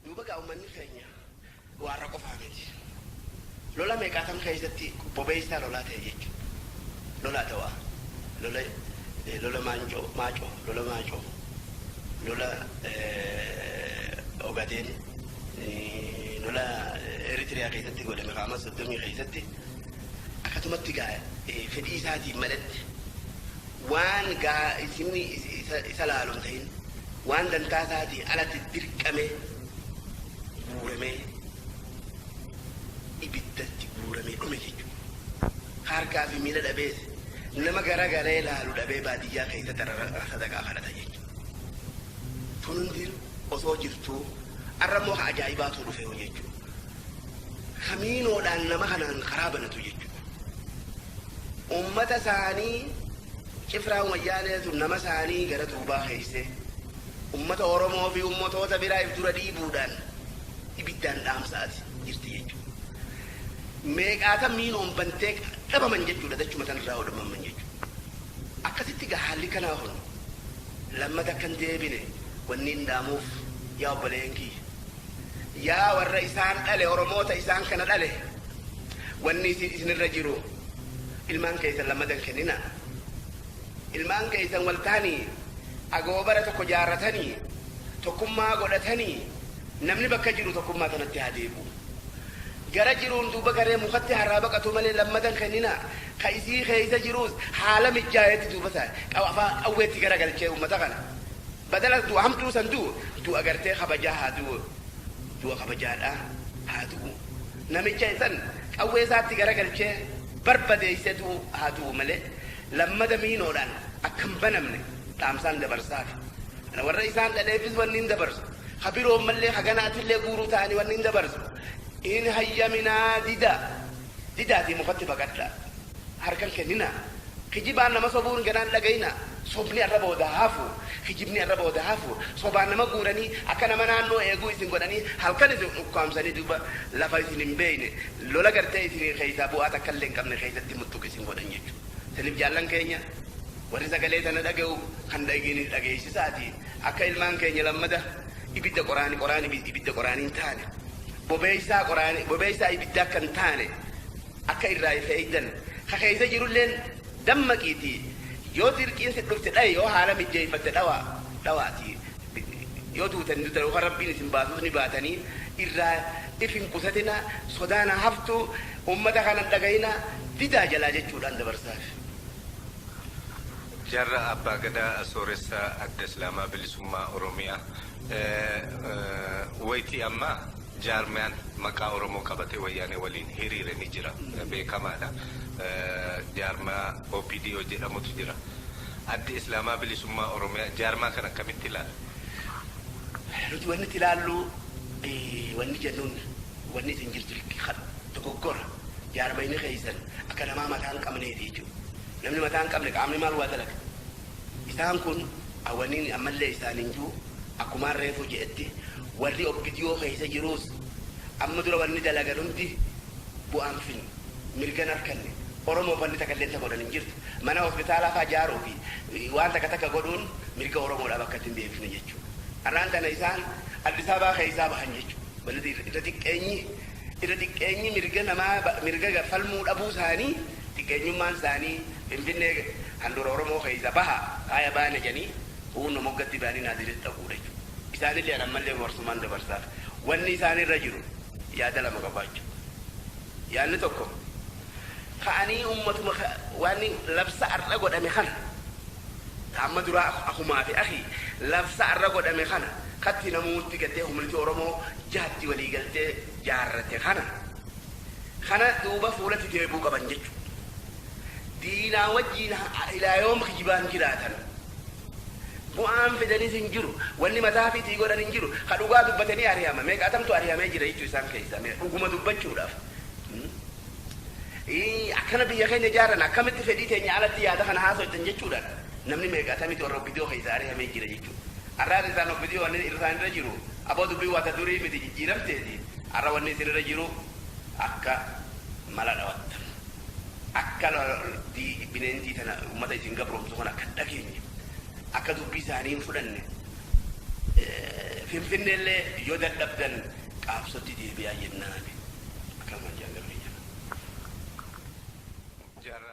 Duuba gaa ummanni keenya waa irra qofaa miti. Lola meeqaatam keessatti bobeessaa lolaa ta'e jechuun. Lola Adawaa, lola lola Maanjoo, Maacoo, lola Maacoo, lola Ogadeen, lola Eritrea keessatti godhame kaa Mars 30 keessatti akkatumatti gaa fedhii isaatiin maletti waan gahaa isinni isa laalu hin tahin, waan dantaa isaatii alatti dirqamee guuramee ibiddatti guuramee dhume jechuudha. Ka harkaa fi miila dhabees nama garagalee laalu dhabee baadiyyaa keessatti arra sadaqaa kadhata jechuudha. Tun hundi osoo jirtuu arra immoo ka ajaa'ibaatu dhufeeru jechuudha. kamiinoodhaan nama kanaan karaa banatu jechuudha. Uummata isaanii cifraan wayyaaneetu nama isaanii gara duubaa keessee uummata Oromoo fi uummotoota biraa if dura dhiibuudhaan ibiddaan dhaamsaati jirti jechuudha. Meeqaata miinoon bantee dhabaman jechuudha dachuma tanarraa hodhamamman jechuudha. Akkasitti gaa haalli kanaa kun lammata akkan deebine wanni hin dhaamuuf yaa obboleeyyan kiyya. Yaa warra isaan dhale Oromoota isaan kana dhale wanni isin isinirra jiru ilmaan keessan lammada hin kenninaa. Ilmaan keessan wal tahanii agoobara tokko jaarratanii tokkummaa godhatanii namni bakka jiru tokkummaa tanatti haa deebi'u. Gara jiruun duuba garee mukatti harraa baqatu malee lammada hin kenninaa. Ka isii keessa jiruus haala mijjaayetti duuba isaa qawweetti garagalchee ummata kana Badala du'a hamtuu san du'u, du'a gartee kabajaa haa du'u. Du'a kabajaadhaa haa du'u. Namicha san qawwee isaatti garagalchee barbadeessee du'u haa du'u malee, lammada miinoodhaan akka hin banamne dhaamsaan dabarsaafi. Ana warra isaan dhaleefis wannin dabarsu, ka biroommallee ka ganaatillee guuruu ta'anii wannin dabarsu, hin hayyaminaa, didaa. didaatii mukatti baqadhaa. Harka hin kenninaa. Kijibaan nama sobuun ganaa hin dhagayinaa. Sobni arraba odaa hafu. Kijibni arraba odaa hafu. Sobaan nama guuranii, akka nama naannoo eeguu isin godhanii, halkan isin ukkaamsanii duuba lafa isin hin beeyne, lola gartee isiniin keeysaa bu'aa takka illee hin qabne keeysatti muttuq isin godhan jechu. Saniif jaallan keenya, warri sagalee tana dhagayu, kan dhaygeenis dhageeysisaatii, akka ilmaan keenya lammada, Ibidda qoraani qoraani ibidda qoraani hin taane, bobeessaa qoraani bobeessaa ibidda akka hin taane akka irraa if eeydan, ka keeysa jirulleen dammaqiitii yoo dirqiin si dhufte dhayi yoo haala mijjeeyfatte dhawaa, dhawaatii yoo duutan ni duutan yookaa Rabbiin isin baasus ni baatanii, irraa if hin qusatinaa, sodaan haa haftuu, ummata kana hin dhagayinaa, didaa jalaa jechuudhaan dabarsaaf. Jaarraa Abbaa Gadaa Sooressa Adda Islaamaa Bilisummaa Oromiyaa. Wayitii ammaa jaarmiyaan maqaa Oromoo qabatee Wayyaanee waliin hiriire ni jira. Beekamaadha. Jaarmiyaa OPDO jedhamutu jira. Addi Islaamaa Bilisummaa Oromiyaa jaarmiyaa kana akkamitti ilaala? Nuti wanni itti ilaallu, wanni jennuun wanni isin jirtu dogoggora. Jaarmiyni keessan akka namaa mataa hin qabneeti jechuudha. Namni mataa hin qabne qaamni maal waa dalaga? Isaan kun awaniin ammallee isaaniin jiru akkumaan reefuu je'etti warri opdo keessa jiruus amma dura wanni dalagan hundi bu'aa hin finne, mirga hin arkanne, oromoof wanni takalleen ta godhan hin jirtu, mana hospitaalaa faa jaaruu fi waan takka takka godhuun mirga oromoodhaa bakkatti hin deebifne jechuudha. Arraan tana isaan addisaabaa keessaa bahan jechuudha. Irra xiqqeenyi irra xiqqeenyi mirga namaa mirga falmuu dhabuu isaanii Xiqqeenyummaan isaanii Finfinnee handhuura Oromoo keessa baha faaya baana jedhanii huunna moggatti bahanii Naazireet dhaquudha jechuudha. Isaanillee an ammallee warsumaan dabarsaaf. Wanni isaan irra jiru yaada lama qabaachuu. Yaanni tokko ka'anii ummatuma waan labsa ar'a godhame kana ta amma duraa akumaa fi akii labsa ar'a godhame kana katti namuutti gaddee kumniti Oromoo jahatti walii galtee jaarrate kana Kanas duuba fuulatti deebi'uu qaban jechuudha. Diinaa wajjiin ilaa yoom kijibaan jiraatan? Bu'aan fidanis hin jiru. Wanni mataa fiitii godhan hin jiru. Ka dhugaa dubbate ni arihama. Meeqaatamtu arihamee jira jechuu isaan keessaa mee dhuguma dubbachuudhaaf. Ii akkana biyya keenya ijaarran akkamitti fedhii teenya alatti yaada kana haasoytan jechuudhaan namni meeqaatamitu warra opdo keessaa arihamee jira jechuudha. Arraa keessaan opdo wanni irraan irra jiru aboo dubbiin waa ta durii miti jijjiiramteeti arra wanni isin irra jiru akka mala dhawattan akka loltii bineentii tana ummata isin gabromsu kana akka hin dhageenye akka dubbii isaanii hin fudhanne finfinnee illee yoo dadhabdan qaabsotti deebi'aa jennaani akkanumaan jaan galmee jira.